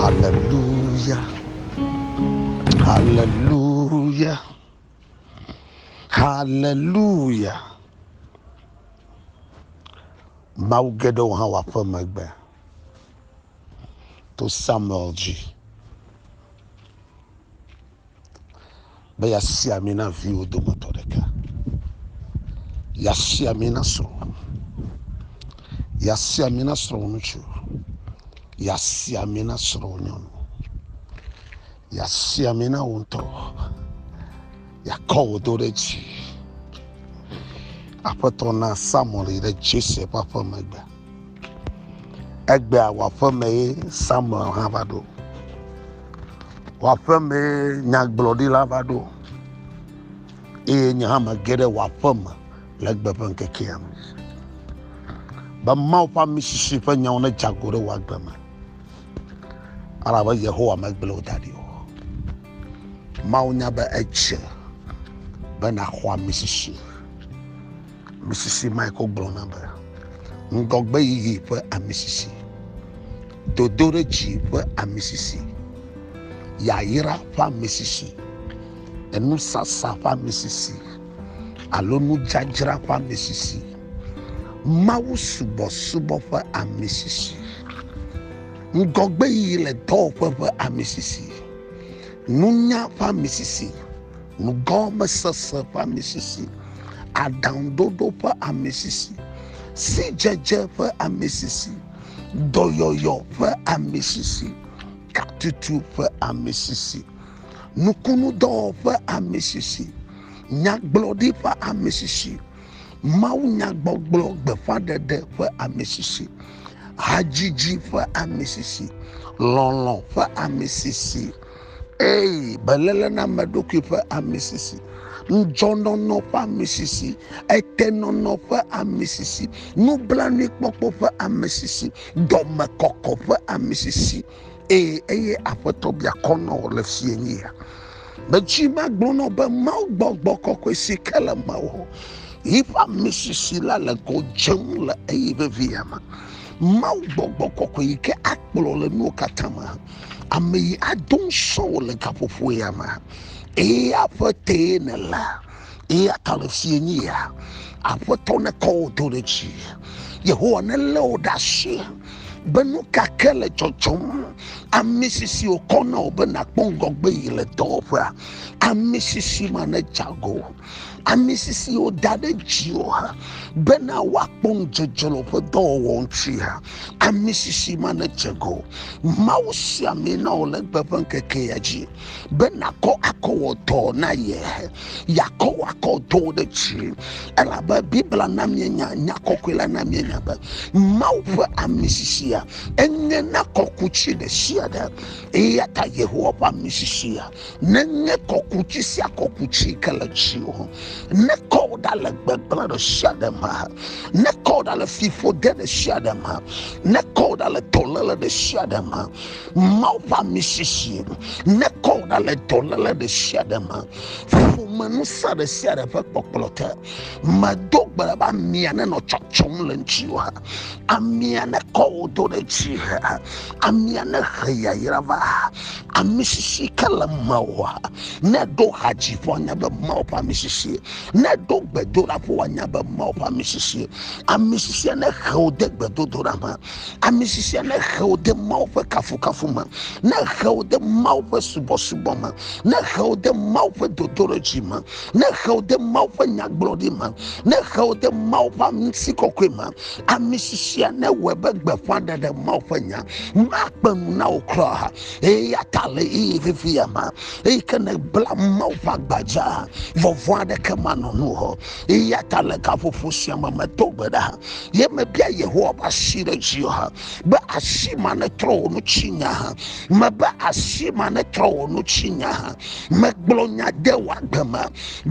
Haleluya, haleluya, haleluya. Mawu geɖewo hã wɔ aƒe megbe to Samuel dzi. be yasi ami na viwò dometɔ ɖeka, yasi ami na srɔ̃wò, yasi ami na srɔ̃wò ŋutsu, yasi ami na srɔ̃wò nyɔnu, yasi ami na wò ŋutɔ, yakɔ wò do ɖe dzi. Aƒetɔ na Samuel yi ɖe Jese ƒe aƒe megbe. Egbea wɔaƒemee Samuel hã va ɖo. Wɔaƒemee nyagblɔɖila va ɖo eye nye hã mege ɖe wɔaƒeme le egbe ƒe ŋkekea me be Mawu ƒe amisisi ƒe nyawo nedze agɔ ɖe wò agbe me elabe Yehowa megblẽ wò da ɖi o. Mawu nya be edze be nàxɔ amisisi. Misisi Michael gblɔna be, Ŋgɔgbeyiyi ƒe amisisi, dodoɖedzi ƒe amisisi, yayra ƒe amisisi, enusasa ƒe amisisi, alo nudzadzra ƒe amisisi, mawusubɔsubɔ ƒe amisisi, ŋgɔgbeyiyi le dɔwɔƒe ƒe amisisi, nunya ƒe amisisi, nugɔmesese ƒe amisisi, aɖaŋuɖoɖo ƒe amisisi, sidzedze ƒe amisisi, dɔyɔyɔ ƒe amisisi, katutu ƒe amisisi, nukunudɔwɔƒe amisisi, nyagblɔɖi ƒe amisisi, mawunyagbɔgblɔ gbeƒãɖeɖe ƒe amisisi, hadzidzi ƒe amisisi, lɔlɔ̃ ƒe amisisi. Eye beléle na ame ɖokui ƒe amisisi, ŋudzɔnɔnɔ ƒe amisisi, etenɔnɔ ƒe amisisi, nublanuikpɔkpɔ ƒe amisisi, dɔmekɔkɔ ƒe amisisi. Eye eye aƒetɔ bia kɔ nɔ wò le fie nye ya. Metsi magblɔ nɔ be Mawu gbɔgbɔ kɔkɔe si ke le mewò. Yiƒe amisisi la le godzem le eye vevia me. Mawu gbɔgbɔ kɔkɔe yi ke akplɔ le nuwo katã me. Ame yi ado ŋusɔ wò le gaƒoƒo ya me. Eye aƒetee nèle. Eya ta le fie nye ya. Aƒetɔ nekɔ wò do ɖe dzi. Yehowa nelé wò ɖe asi be nu ka ke le dzɔdzɔm. Ami sisi wòkɔ na wò be nàkpɔ ŋgɔgbe yi le dɔwɔƒea. Ami sisi ma nedze ago. ami sisi woda ɖe dziwò hã bena woakpɔ ŋudzedze le woƒe dɔwɔwɔ ŋuti hã ami sisi ma nedze go mawu sia mi na wò le gbe ƒe ŋkeke ya dzi be nakɔ akɔ wɔ dɔ na ye yakɔ wɔ akɔ dɔ ɖe dzi elabe bibla na mienya nya kɔkɔe la na mienya be mawu ƒe ami sisia enye na kɔku tsi ɖe sia ɖe eya ta yehowa ƒe ami sisia nenye kɔkuti sia kɔkuti ke le dziwò ne kɔ wò ɖa le gbegblẽ ɖe sia ɖe me ne kɔ wò ɖa le fiƒode ɖe sia ɖe me ne kɔ wò ɖa le dɔléle ɖe sia ɖe me mawu ƒe ami sisi ne kɔ wò ɖa le dɔléle ɖe sia ɖe me ƒome ŋusẽ ɖe sia ɖe ƒe kpɔkplɔ te medo gbe ɖa be amia nenɔ tsɔtsɔm le ŋutiwò amia ne kɔ wò do ɖe dzi amia ne he yayra va amisisi ke le mawòa ne ɖo hadzi ƒe anya be mawo ƒe amisisi ne ɖo gbedoɖa ƒe anya be mawo ƒe amisisi amisisi ne xewo de gbedodoɖa me amisisi ne xewo de mawo ƒe kafukafu me ne xewo de mawo ƒe subɔsubɔ me ne xewo de mawo ƒe dodoɖedzi me ne xe wò de mawu ƒe nyagblɔɖi me ne xe wò de mawu ƒe amisi kɔkɔe me ami sisia ne wɔe be gbeƒã ɖeɖe mawu ƒe nya makpe nu na wò kura ha eye ya ta le eye vivi ya ma eye ke ne bla mawu ƒe agbadza vɔvɔa ɖeke manɔ nu hɔ eye ya ta le gaƒoƒo sia me meto gbe ɖa ye mebia yehowa ƒe asi ɖe dzi ha be asi ma netrɔ wò nu tsi nya ha mebe asi ma netrɔ wò nu tsi nya ha megblɔ nya de wò agbe me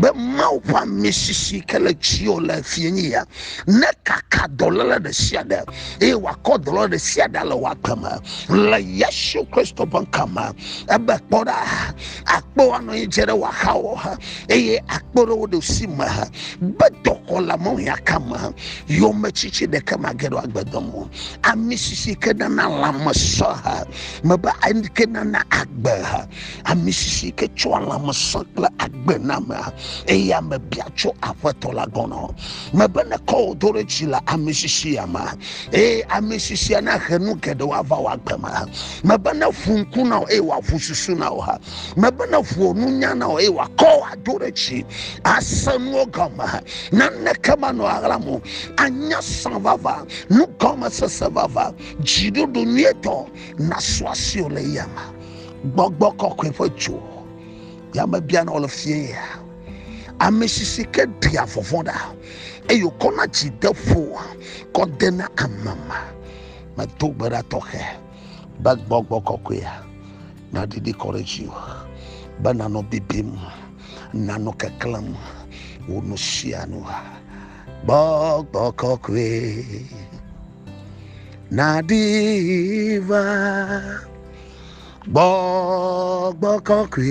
be mawu ƒe ami sisi ke le dziwò le fie nyi ya nekaka dɔléle ɖe sia ɖe eye wòakɔ dɔléle ɖe sia ɖe le wò agbe me le yesu kristo ƒe ŋkɔ me ebe kpɔ ɖa akpɔ anɔ anyi dze ɖe wò axawo ha eye akpɔ ɖe wò ɖusi me ha be dɔkɔ le mɔwia ka me yometsitsi ɖeke mage ɖo agbedɔm o ami sisi ke nana lãme sɔ ha mebe ke nana agbe ha ami sisi ke tsɔa lãme sɔ kple agbe na me eye ame bia tso aƒetɔ la gɔnɔ mebe ne kɔ wò do ɖe dzi le ami sisi ya me eye ami sisia na he nu geɖewo ava wɔ agbe me mebe ne ƒu ŋku na wò eye wòaƒu susu na wò ha mebe neƒo nunya na wò eye wòakɔ wò ado ɖe dzi ase nuwo gɔme naneke manɔ aɣlam o anya sã vava nugɔmesese vava dziɖuɖu nyuitɔ nasu asi wò le yame gbɔgbɔ kɔkɔe ƒe dzo yame biana wò le fie ya ame sisi ke ɖia vɔvɔ̃ ɖa eye wòkɔna dzi de ƒo kɔ dena amama medo gbe ɖa tɔxɛ be gbɔgbɔ kɔkɔea Nàdidi kɔ ɖe dziwò be nànɔ bibim, nànɔ keklẽm wò nu sia nu. Gbɔgbɔ kɔkɔe nàdi va, gbɔgbɔ kɔkɔe.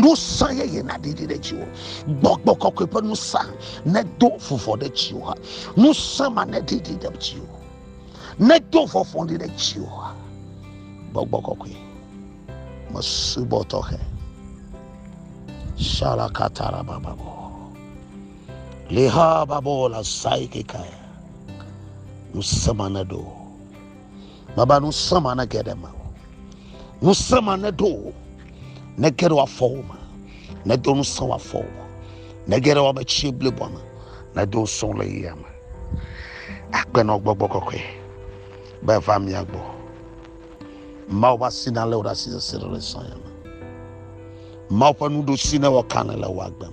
Ŋusẽ yeye naɖiɖi ɖe dziwò. Gbɔgbɔ kɔkɔe ƒe ŋusẽ nedo vuvɔ ɖe dziwò. Ŋusẽ ma neɖiɖi ɖe dziwò. Nedo vɔvɔli ɖe dziwò. Gbɔgbɔ kɔkɔe. Mesubɔ tɔxɛ. Shalakatara bababo. Liha babo la saikekaya. Ŋusẽ ma nedo. Baba nu srã ma ne geɖe ma o. Nu srã ma ne ɖo o. Ne geɖe wa fɔ o ma. Ne do nu srã wa fɔ o. Ne geɖe wa be tsi ble bɔ ma. Ne do srã le yi ama. Akpe nɔ gbɔgbɔ kɔkɔe. Be va mia gbɔ. Mao va si na le o da si se se le srã ya ma. Mao pa nu do si ne wa kan le wa gbem.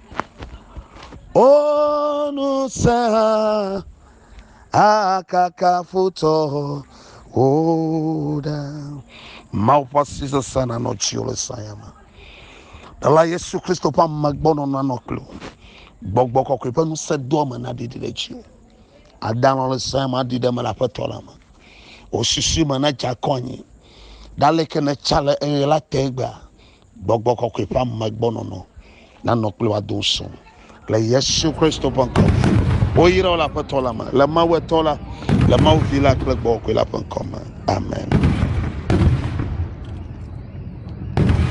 O ŋusẽ hã akaka futɔ wò ɖa. Mawu ƒe asi sesẽ nanɔ dziwò le saya me. Ɖela Yesu Kristo ƒe amegbɔnɔnɔ nanɔ kple wò. Gbɔgbɔ kɔkɔe ƒe ŋusẽ doa me naɖiɖi ɖe dziwò. Adanɔ le saya me aɖi ɖe eme le Aƒetɔ la me. Wò susu me nadze akɔ anyi. Ɖaleke nètsa le eye la te egbea, Gbɔgbɔ kɔkɔe ƒe amegbɔnɔnɔ nanɔ kple wò ado ŋusẽ wò. Le Yesu Kristo ƒe ŋkɔ me, woyra wò le Aƒetɔ la me, le Mawu etɔ la, le Mawu Vi la kple Gbɔgbɔ Kɔkɔe la ƒe ŋkɔ me. Amen.